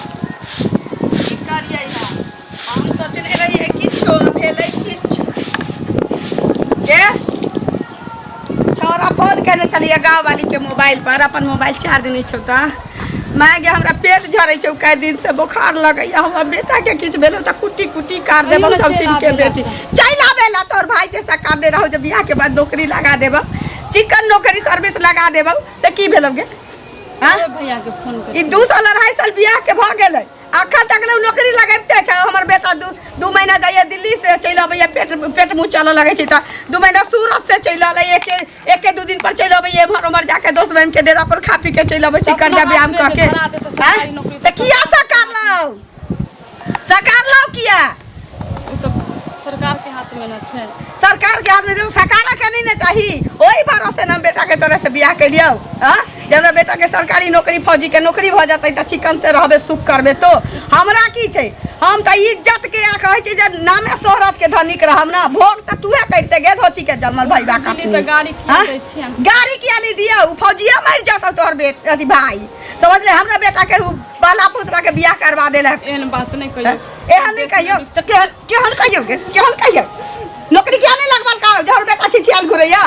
की करियै है हम सोचने रहियै किछो भेलै किछो के छौरा फोन केने छलियै गाँववाली के मोबाइल पर अपन मोबाइल चार्ज नहि छौ तऽ माय गे हमरा पेट झड़ै छौ कई दिन से बोखार लगैया हमर बेटा के किछु भेलौ तऽ कुट्टी कुट्टी काट देबौ अइयो ने सब चलि दिन के आबे ला। बेटी चलि आबे ला तोर भाई जैसा काटने रहौ जे बियाह के बाद नौकरी लगा देबौ चिकन नौकरी सर्विस लगा देबौ से की भेलौ गे हाँ? अरे भैया के फोन कर ई दू साल अढ़ाई साल बियाह के भऽ गेलै अखन तक ले उ नौकरी लगैते छै हमर बेटा दू दू महीना जाइए दिल्ली से चलि अबैए पेट पेट मुँह चलऽ लगै छै तऽ दू महीना सूरत से चलि अलै एके एके दू दिन पर चलि अबैए एम्हर ओम्हर जाके दोस्त बहिन के डेरा पर खा पी के चलि अबै छै अपना कर्जा बाप व्यायाम बेटे कऽ के धरा देतै सरकारी हाँ? नौकरी तऽ किया से करलौ सरकार लाओ किया ओ तऽ सरकारके हाथमे ने छै सरकार के हाथ में दे सरकार के नहीं ना चाहिए वही भरोसे ना बेटा के तोरे से बियाह कर लियो हाँ? जब हमरा बेटा के सरकारी नौकरी फौजी के नौकरी भ जाते त चिकन से रहबे सुख करबे तो हमरा की छै हम त इज्जत के आ कहे छी जे नामे शोहरत के धनिक रहब ना भोग त तूहे करते गे धोची के जलमल भाई बा बिजली तऽ गाड़ी किया हाँ? दै छियनि गाड़ी किया नहीं दिया फौजिया मर जाता तोहर बेट अथी भाई समझ ले हमरा बेटा के उ बाला पोतरा के बियाह करवा देला एहन बात नहीं कहियो एहन नहीं कहियो तो केहन केहन कहियो के केहन कहियो नौकरी किया नहीं लगवाल का जहर बेटा छी छियाल घुरैया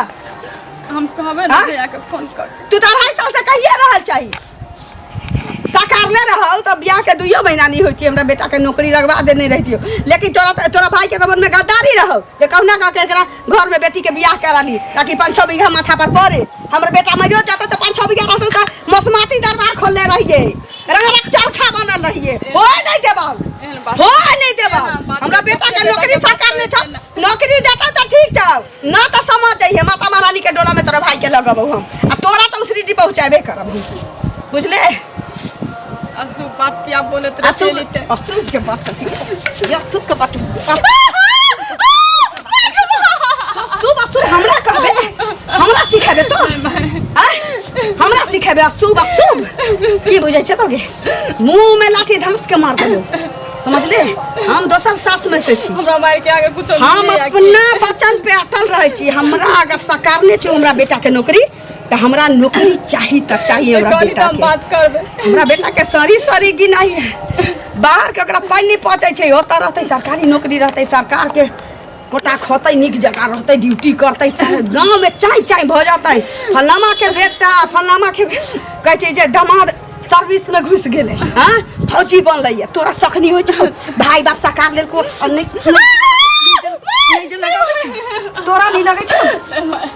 हम कहबे ना हाँ? भैया के फोन कर तू तो अढ़ाई साल से कहिए रहल चाही सकारले रहल तो बियाह के दुइयो महीना नहीं होती हमरा बेटा के नौकरी लगवा देने रहतियो लेकिन तोरा तोरा भाई के दमन में गद्दारी रहल जे कहुना का के एकरा घर में बेटी के बियाह करा ली ताकि पाँच छः बीघा माथा पर पड़े हमर बेटा मरियो जाते तो पाँच छः बीघा रहते तो मसमाती दरबार खोलने रहिए रंगरक चरखा बनल रहिए हो नहीं देबाल हो नहीं देबाल हमरा बेटा के नौकरी सरकार ने छा नौकरी देता तो ठीक था ना तो समझ जाइए माता महारानी के डोला में तोरा भाई के लगब हम आ तोरा तो उसरी डी पहुँचाबे करब बुझले असु बात क्या बोलत रहे असु चली ते असु के बात करती या असु के बात असु असु हमरा कहबे हमरा सिखाबे तो आय, हमरा सिखाबे असु असु की बुझै छै तोगे मुंह में लाठी धमस के मार देबो समझले हम दोसर सास में से छी हमरा मार के आगे कुछ हम अपना वचन पे अटल रहे छी हमरा अगर सकारने छै हमरा बेटा के नौकरी तऽ हमरा नौकरी चाही तऽ चाही हमरा कहली बेटा तऽ हम के बात करबै हमरा बेटा के सरी सरी की नहीं है बाहर के ओकरा पानि पहुँचै छै ओतऽ रहतै सरकारी नौकरी रहतै सरकार के कोटा खोतै नीक जकाँ रहतै ड्यूटी करतै चाहे गाँवमे चाँय चाँय भऽ जेतै फलामा के बेटा फलामा के बेटा कहै छै जे दमाद सर्विसमे घुसि गेलै हँ फौजी बनलैए तोरा सखनी होइ छौ भाय बाप सकार लेलको आओर नहि- नहि जे लगबै छौ। तोरा नहि लगै छौ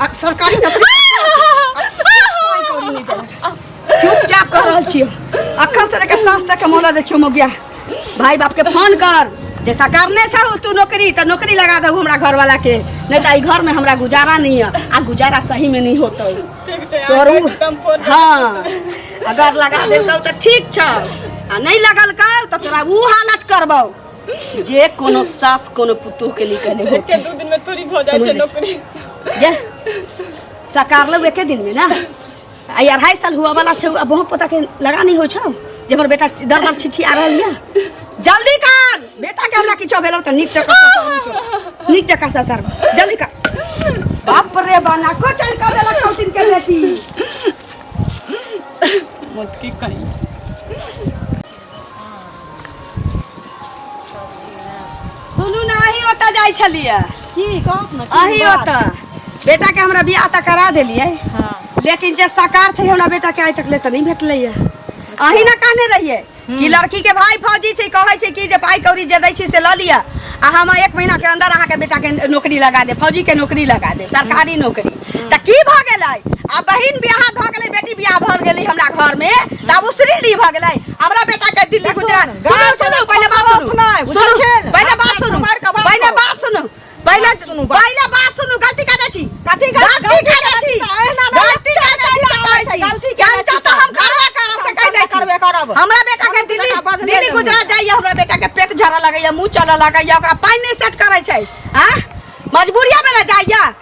आ सरकारी नौकरी कोई कौड़ी नहीं देला। चुपचाप कर रहल छियो अखन से लेके साँस तक के मोहलत दे छियो मोगिया भाई बाप के फोन कर जैसा करने छहो तू नौकरी तो नौकरी लगा दहु हमरा घर वाला के नहीं तो ई घर में हमरा गुजारा नहीं है आ गुजारा सही में नहीं होतौ ठीक छै तोर अहाँ उ- एकदम फोन हाँ अगर लगा देतौ तो ठीक छौ आ नहीं लगल कल तो तोरा ऊ हालत करबौ जाए जे कोनो सास कोनो पुतोह के लिए कहने होते दू दिन में थोड़ी भऽ जाइ छै नौकरी जे सकार लो एके दिन में ना आ ई अढ़ाई साल हुआ वाला छै अब बहुत पता के लगा नहीं हो छौ जे हमर बेटा दर दर छिछी आ रहल है जल्दी कर बेटा के हमरा किछो भेलो त नीक जका ससर नीक जका ससर जल्दी कर बाप रे बाना को चल कर देला खौतिन के बेटी मत की कहीं सुनू ने अही ओतऽ जाइ छलियै की कहब ने अही ओतऽ बेटा के हमरा बियाह तऽ करा देलियै हाँ लेकिन जे सकार छै हमरा बेटा के आइ तक ले तऽ नहीं भेटलै है अही ना कहने रहिए कि लड़की के भाई फौजी छै कहै छै कि जे पाई कौड़ी जे दै छी से लऽ लिअ आ हम एक महीना के अंदर अहाँ के बेटा के नौकरी लगा दे फौजी के नौकरी लगा दे सरकारी नौकरी तऽ की भऽ गेलै आ बहिन बियाह भऽ गेलै बेटी बियाह भऽ गेलै हमरा घर में तऽ आब उसरी री भऽ गेलै हमरा बेटा के दिल्ली गुजरात सुनू सुनू पहिले बात सुनू सुनू पहिले बात सुनू पहिले बात सुनू पहिले सुनू पहिले बात सुनू गलती करै छी कथी गलती करै छी गलती करै छी तऽ कहै छी गलती चर्चा तऽ हम करबे करब से कहि दै छी करबे करब हमरा बेटा के दिल्ली दिल्ली गुजरात जाइए हमरा बेटा के पेट झरऽ लगैए मुँह चलऽ लगैए ओकरा पानि नहि सेट करै छै आ मजबूरिया में ना जाइए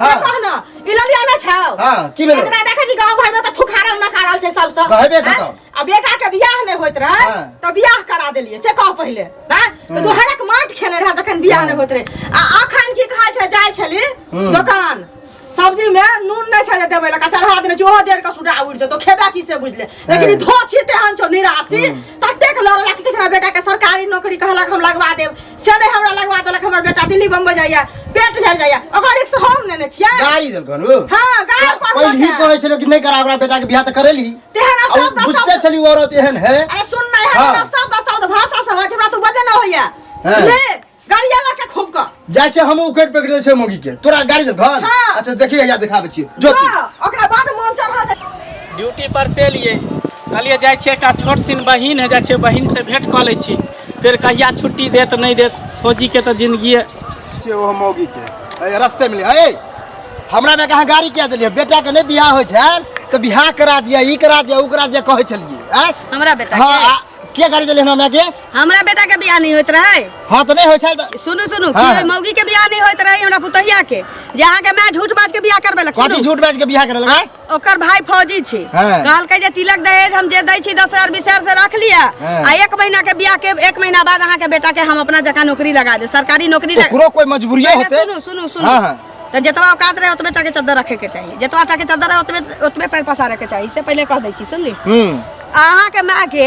हाँ। कह न ई ललिया ना छाओ हाँ, की भेलै? एकरा देखै छी गांव घर में त थुखारल ना खारल छै सब सब कहबे हाँ? करतौ। आ बेटा के बियाह नै होइत रहे हाँ। त बियाह करा देलिए से कह पहिले हां तो हम्म। दोहरक माट खेने रहे जखन बियाह नै होइत रहे आ अखन की कहै छै जाइ छली हम्म। दोकान सब्जी में नून नै छै जे देबै लका चढ़ा देने चूहो जर के सुडा उड़ जेतो खेबा की से बुझले लेकिन ई हँ। धोछ ये तेहन छौ निराशी ततेक लड़ला कि किछु ना बेटा के सरकारी नौकरी कहलक हम लगवा देब से नहि हमरा लगवा देलक हमर बेटा दिल्ली बम्बई जाइया पेट झड़ जाइया ओकर रिक्स हम नेने छियै गाड़ी देलक हन उ हाँ गाय पर पहिलही लौटे। कहै छलो कि नहि करा ओकरा बेटा के बियाह त करेली तेहन आ उ शब्द बुझते शब्द छली उ औरत एहन है अरे सुन ना हाँ। यहाँ सब शब्द भाषा समझ हमरा तू बजे ना होइया हाँ। ले गाड़ी आला के खूब का जाय छै हम उकड़ पकड़ दे छै मोगी के तोरा गाड़ी दे घर हाँ। अच्छा देखिए या दिखाबे छी जो तू हाँ, ओकरा बाद मन चढ़ा दे ड्यूटी पर से एलियै कहलियै जाइ छियै एकटा छोट सिन बहिन है जाइ छियै बहिन से भेंट कऽ लै छी फेर कहिया छुट्टी देत नहि देत फौजी के तऽ जिंदगी छै ओ मौगी के ए, रस्ते मिले ए हमरा में कहा गाड़ी किया देलिए बेटा के नहीं बियाह होय छै तो बियाह करा दिया ई करा दिया ऊ करा दिया कहै छलिए ए हमरा बेटा हाँ के? आ, के गाड़ी देलिए हमरा में के हमरा बेटा के बियाह नहीं होत रहे हां त नहीं होय छै त सुनु सुनु हाँ, कि हाँ। मौगी के बियाह नहीं होत रहे हमरा पुतहिया के जे अहाँ के मैं झूठ बाज के बियाह करबे लग कथी झूठ बाज के बियाह करे लगा ओकर भाई फौजी छी हाँ। कहलकै जे तिलक दहेज हम जे दै छी दस हजार बीस हजार से रख लिया हाँ। आ एक महीना के बियाह के एक महीना बाद अहाँ के बेटा के हम अपना जगह नौकरी लगा दे सरकारी नौकरी लगा ओकरो कोई मजबूरी पहिले होते सुनु सुनु सुनु हाँ, हाँ। तो जतवा औकात रहे ओतबे टाके चद्दर रखे के चाहिए जतवा टाके चद्दर रहे ओतबे ओतबे पैर पसारे के चाहिए इससे पहले कह दै छी सुनली हम्म अहाँ के माँ के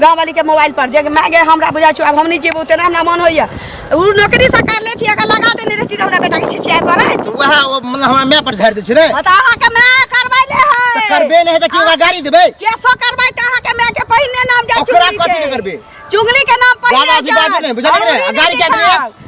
गाँव वाली के मोबाइल पर जे माय गे हमरा बुझा छो अब हम नहीं जेबो तेरा हमरा मन होइया उ नौकरी से कर ले छी अगर लगा देने रहती त हमरा बेटा के छिछिया पर है तो वह ओ मतलब हमरा मैं पर झाड़ दे छै रे त अहाँ के मैं करबै ले है तो करबे नहीं है तो की ओकरा गाड़ी देबे केसो करबै त अहाँ के मैं के पहिने नाम जा ओकरा चुगली कथी के के करबै? चुगली के नाम पर दादा जी बात नहीं बुझा रे गाड़ी के दे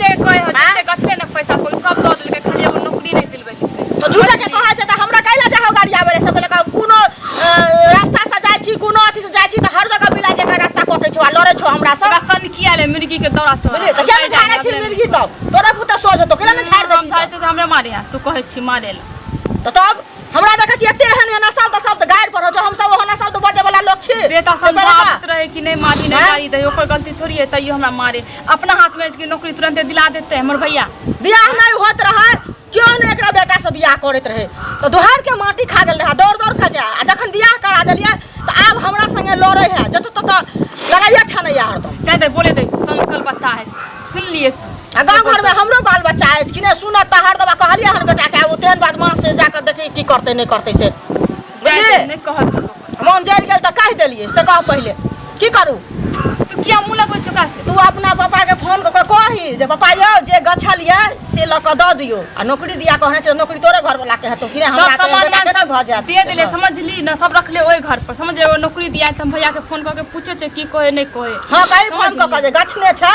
ते कहे हो आँय? जते कथले न पैसा कोल सब दऽ देलकै खाली एगो नौकरी नहीं दिलबै तो झूठा के कहा जाता हमरा कैला जा हो गाड़ी आवे सब लगा कोनो अ, रास्ता से जाय छी कोनो अथी से जाय छी त हर जगह मिला के एकर रास्ता कटे छो आ लड़े छो हमरा सब तोरा सन किया ले मुर्गी के दौरा से बुझलिए त केना झाड़ा छी मिर्गी तब तोरा पुता सोझ तो केना झाड़ दे हम छी झाड़ तब? छै हमरे मारे आ, तू कहै छी मारे ले त तब हमरा देखै छी एते एहन एहन शब्द शब्द गाड़ पर हो जो हम सब ओहन शब्द बजे वाला लोग छी बेटा से बड़का। समझाबत रहे कि नहीं मारी नहीं आँय? मारी दे ओकर गलती थोड़ी है तैयो हमरा मारे अपना हाथ में इसकी नौकरी तुरंत दिला देते हैं मोर भैया बियाह नहीं होत रहे क्यों ने एकरा बेटा से बियाह करत रहे तो दोहर के माटी खा गेल रहा दौड़ दौड़ के जा आ जखन बियाह करा देलिए तो आब हमरा संगे लड़े है जत तत लड़ाइया ठानैया हरदम कह दे बोले दे संकल बता है सुन लिए तू आ गाँव घर में हमरो बाल बच्चा अछि कि नहि सुनत तऽ हरदम कहलियै हन बेटा के आब तेहन बात माँ से जाकर देखी की करते नहीं करते से जाय दे, बुझलियै? नहि कहत लोक ओकर। मोन जरि गेल तऽ कहि देलियै से कह पहिले की करू तू किया मुँह लगबै छै ओकरा से तू अपना पापाके फोन कऽ कऽ कही जे पापा यौ जे गछल यऽ से लऽ कऽ दऽ दियौ आ नौकरी दिया कहने छै नौकरी तोरे घरवला के हेतौ कि नहि सब हमरा तऽ सामान बेटाके नहि भऽ जायत दे देले समझली ना सब रखले ओहि घर पर समझ एगो नौकरी दिया तऽ हम भैया के फोन कऽ के पूछे छै की कहे नहीं कहे हँ कही फोन कऽ कऽ जे गछने छै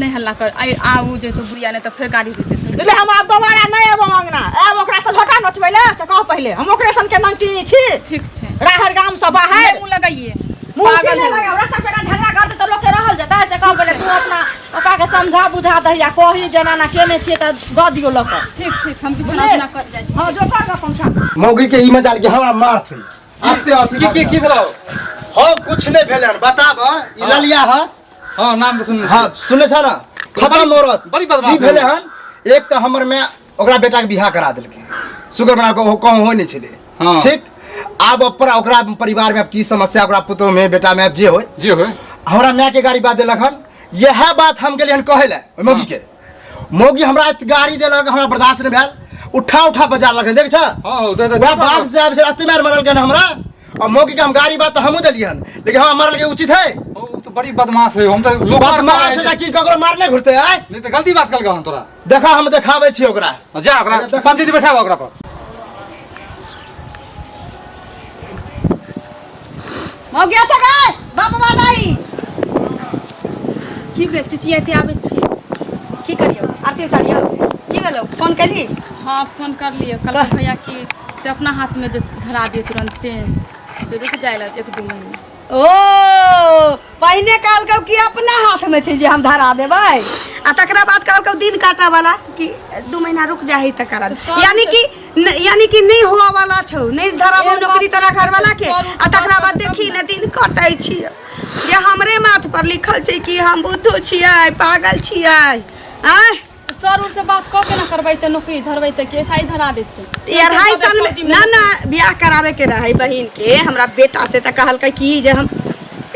नहि हल्ला कर आइ आबू जे छै बुढ़िया नहि तऽ फेर गाड़ी दे देतै એટલે हम आप दोबारा नहीं एबो अंगना एब ओकरा से झोटा नचबै ले से कह पहिले हम ओकरे सन के नंटिनी छी ठीक छै राहर गाम से बाहर मुंह लगाइए मुंह के नहीं लगाओ रास्ता पेटा झगड़ा करते तो लोग के रहल जता से कह पहिले तू अपना पापा के समझा बुझा दहिया कही जनाना केने छिए त द दियो लक ठीक ठीक हम किछु ना कर जाय हां जो कर अपन साथ मौगी के ई मजाल के हवा मार थी आते आते की की भेला हो कुछ नहीं भेलन बताब ई ललिया ह हाँ नाम के सुन हाँ सुने छा ना खत्म औरत बड़ी बदमाश की भेले हन एक तो हमर में ओकरा बेटा के बियाह करा देलके शुगर बना के कहूँ हो नहीं छे हाँ। ठीक आब पर ओकरा परिवार में की समस्या ओकरा पुतोह में बेटा में जे हो जे हो हमरा माय के गाड़ी बात देलक हन यह बात हम गेलियन कहे ले मौगी के मौगी हमरा एत गाड़ी देलक हमरा बर्दाश्त नहि भेल उठा उठा बजार लगन देख छ हाँ हो दे दे वएह बाग से आबि से एते मार मारल गन हमरा आ मौगी के हम गाड़ी बात तऽ हमहूँ देलियै हन लेकिन हमरा मारल के उचित है वो तो बड़ी बदमाश है हम तो लोग बात मार से कि ककरो मार नहि घुरते आय नहीं तो गलती बात कल हम तोरा देखा हम देखाबै छी ओकरा जा ओकरा अच्छा, देख। पंडित जी बैठाबा ओकरा पर मौगिया छ गए बाप बादाई की भेल चुचिया ते आबै छी की करियो आरती उतारियो की भेलो फोन करी हाँ फोन कर लियो कल भैया की से अपना हाथ में जो धरा दियो तुरंते से रुक जाएला एक दो महीना ओ पहिने काल कहू कि अपना हाथ में छै जे हम धरा देबै आ तकरा बाद कहू कहू दिन काटा वाला कि दू महीना रुक जा है तकरा तो सब यानी कि न- यानी कि नहीं हुआ वाला छौ नहीं धराबो एगो नौकरी तेरा बात घर वाला के सर, आ तकरा बाद सर, देखी न दिन कटै छियै जे हमरे माथ पर लिखल छै कि हम बुद्धो छियै पागल छियै आय सर उनसे बात कऽ के ना करबै तऽ नौकरी धरबै तऽ के साई धरा देतै ई अढ़ाई साल में ना ना ब्याह करावे के रहै बहिन के हमरा बेटा से तऽ कहलकै कि जे हम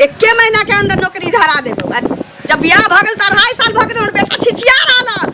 एके महीना के अंदर नौकरी धरा देबो आ जब ब्याह भऽ गेल तऽ अढ़ाई साल भऽ गेल हमर बेटा छिछिया रहल हन।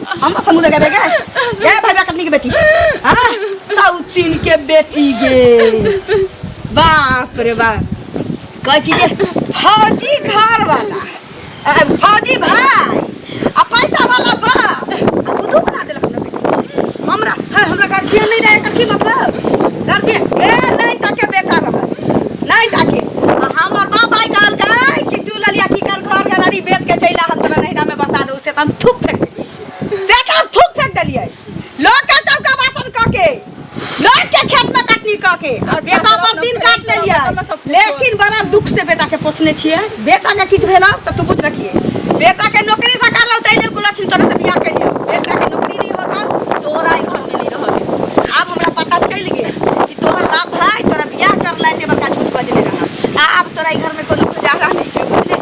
हम अपन मुंह लगाबे गे गे भैया कतनी के बेटी हां साउथिन के बेटी गे बाप रे बाप कह छी जे फौजी घर वाला अ, फौजी भाई आ पैसा वाला बाप आ बुद्धू बना देलक हमरा बेटी हमरा है हमरा गार्जियन नहीं रहे एकर की मतलब गार्जियन ए नहीं ताके बेटा रहे नहीं ताके आ हमर बाप आई कहल कि तू ललिया की कर घर घरारी बेच के चैला हम तोरा नहिरा में बसा दो से हम थूक फेंक देलियै से तऽ हम थूक फेंक देलियै लोग के चौका बासन कऽ के लोग के खेत में कटनी कऽ के और बेटा पर दिन काट लेलियै लेकिन बड़ा दुख से बेटा के पोसने छियै बेटा के किछु भेला तऽ तू बुझ रखिए बेटा के नौकरी से करलौ तै लेल गुला छिन तोरा से बियाह करियौ बेटा के नौकरी नहीं होतौ तोरा ई घर में नहीं रहल आब हमरा पता चलि गेल कि तोहर बाप भाई तोरा बियाह करला एते बड़का झूठ बजने रहा आब तोरा ई घर में कोनो गुजारा नहीं छै बुझले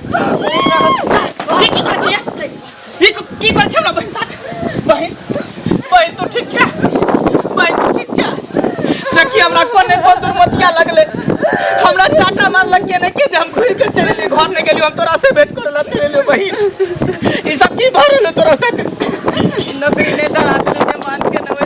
ई की करै छियै ई को- की करै छियै हमरा बहिन साथ बहिन बहिन तू ठीक छै बहिन तू ठीक छै देखी हमरा कोने को दुर्मतिया लगले हमरा चाटा मारलक के नहीं के जे हम घुर के चले लिए घर नहीं गेलियो हम तोरा से भेंट करे ला चले लियो बहिन ई सब की भरे ले तोरा साथ नौकरी नहीं दलात नहीं मान के नवे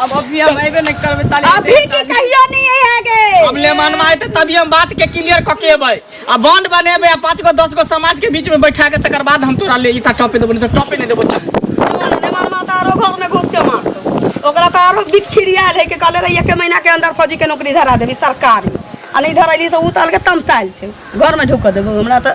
अब अभी हम अबे नहीं करबे ताले अभी की कहियो नहीं है गे अब ले मन माय त तभी हम बात के क्लियर क के अबै आ बॉन्ड बनेबे आ पांच गो दस गो समाज के बीच में बैठा के तकर बाद हम तोरा ले इता टॉपे देबो नहीं तो टॉपे नहीं देबो चल नेमान माता आरो घर में घुस के मार ओकरा तो आरो बिक छिड़िया ले के कहले रही एक महीना के अंदर फौजी के नौकरी धरा देबी सरकारी आ नहीं धरैली से उतार के तमसाइल छै घर में ढुक देबो हमरा तो